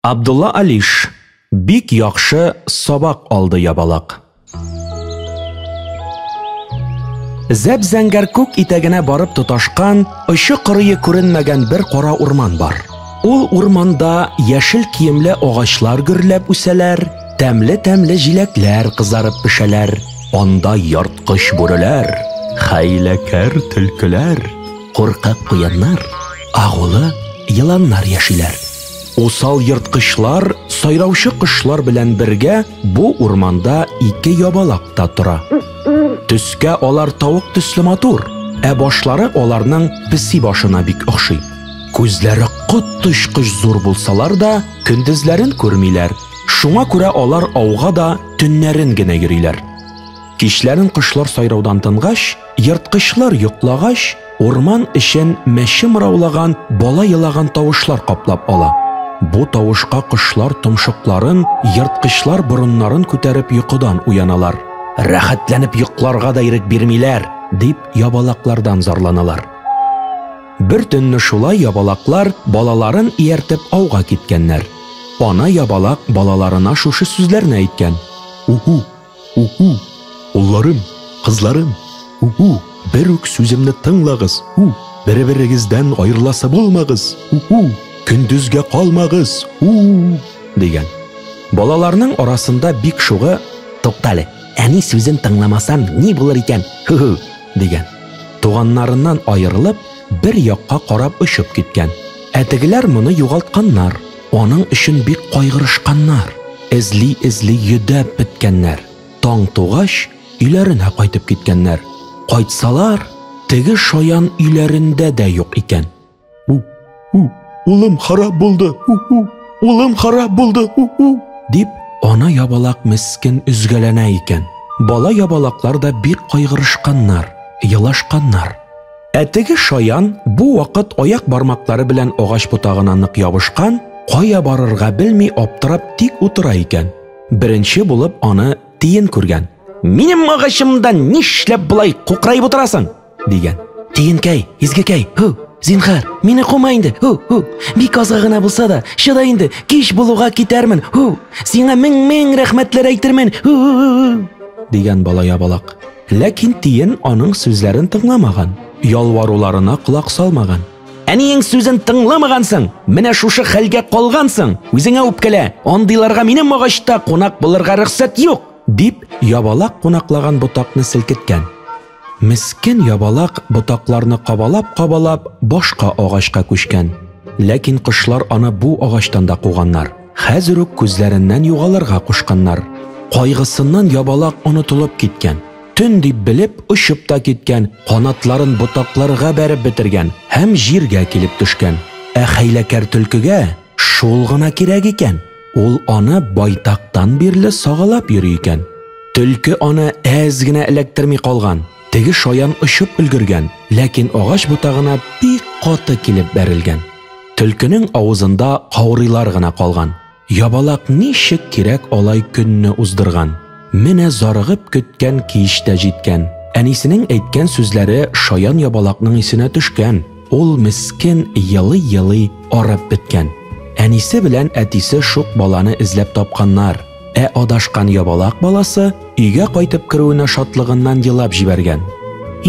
Абдулла Алиш бик яхшы сабак алды ябалак. Зәп зәңгәр күк итәгенә барып тоташкан, очы кырые күренмәгән бер кара урман бар. Ул урманда яшел киемле агачлар гөрләп үсәләр, тәмле-тәмле җиләкләр кызарып пешәләр. Анда ярткыч бүреләр, хәйләкәр төлкеләр, куркак куяннар, агулы еланнар яшиләр. Усал ерткычлар сайраучы кошлар белән бергә бу урманда ике ябалак та тора. Төскә алар тавык төсле матур, ә башлары аларның песи башына бик охшый. Күзләре коточкыч зур булсалар да, көндезләрен күрмиләр. Шуңа күрә алар ауга да төннәрен генә йөриләр. Кичләрен кошлар сайраудан тынгач, ерткычлар йоклагач, урман эчен мәче мыраулаган, бала елаган тавышлар каплап ала. Бу тавышка кошлар томшыкларын, ерткычлар борыннарын күтәреп йокыдан уяналар. Рәхәтләнеп йокларга да ирек бирмиләр, дип ябалаклардан зарланалар. Бер төнне шулай ябалаклар балаларын ияртеп ауга киткәннәр. Ана ябалак балаларына шушы сүзләрне әйткән. Уху, У-ху! Улларым, кызларым, у-ху! Бер үк сүземне тыңлагыз, у! Бер-берегездән аерыласы булмагыз, у-ху! Көндезгә калмагыз, у! дигән. Балаларның арасында бик шугы, Туктале, әни сүзен тыңламасам, ни булыр икән, ху-ху! дигән. Туганнарыннан аерылып, бер якка карап очып киткән. Ә тегеләр моны югалтканнар. Аның өчен бик кайгырышканнар, эзли-эзли йөдәп беткәннәр. Таң тугач, өйләренә кайтып киткәннәр. Кайтсалар, теге шаян өйләрендә дә юк икән. У, у, улым харап булды, у, у, улым харап булды, у, у, дип, ана ябалак мескен өзгәләнә икән. Бала ябалаклар да бик кайгырышканнар, елашканнар. Ә теге шаян бу вакыт аяк бармаклары белән агач ботагына нык ябышкан, кая барырга белми аптырап тик утыра икән. Беренче булып аны тиен күргән. Минем агачымда нишләп болай кукраеп утырасың? дигән. Тиенкәй, изгекәй, һу, зинхар, мине кума инде, һу, һу. Бик азга гына булса да, чыда инде, кич булуга китәрмен, һу. Сиңа мең-мең рәхмәтләр әйтермен, һу, һу, һу, һу. Дигән бала ябалак. Ләкин тиен аның сүзләрен тыңламаган, ялваруларына колак салмаган. Әниең сүзен тыңламагансың, менә шушы хәлгә калгансың, үзеңә үпкәлә, андыйларга минем агачта кунак булырга рөхсәт юк! дип, ябалак кунаклаган ботакны селкеткән. Мескен ябалак ботакларны кабалап-кабалап башка агачка күчкән. Ләкин кошлар аны бу агачтан да куганнар. Хәзер үк күзләреннән югалырга кушканнар. Кайгысыннан ябалак онытылып киткән. Төн дип белеп, очып та киткән, канатларын ботакларга бәреп бетергән һәм җиргә килеп төшкән. Ә хәйләкәр төлкегә шул гына кирәк икән. Ул аны байтактан бирле сагалап йөри икән. Төлке аны әз генә эләктерми калган. Теге шаян очып өлгергән, ләкин агач ботагына бик каты килеп бәрелгән. Төлкенең авызында каурыйлар гына калган. Ябалак ничек кирәк алай көнне уздырган. Менә зарыгып көткән кич тә җиткән. Әнисенең әйткән сүзләре шаян ябалакның исенә төшкән. Ул мескен елый-елый арып беткән. Әнисе белән әтисе шук баланы эзләп тапканнар. Ә адашкан ябалак баласы өйгә кайтып керүенә шатлыгыннан елап җибәргән.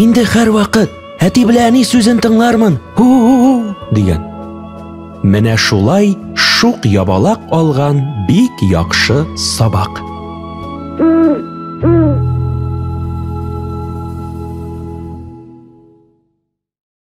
Инде һәрвакыт әти белән әни сүзен тыңлармын. Һу-һу-һу дигән. Менә шулай шук ябалак алган бик яхшы сабак.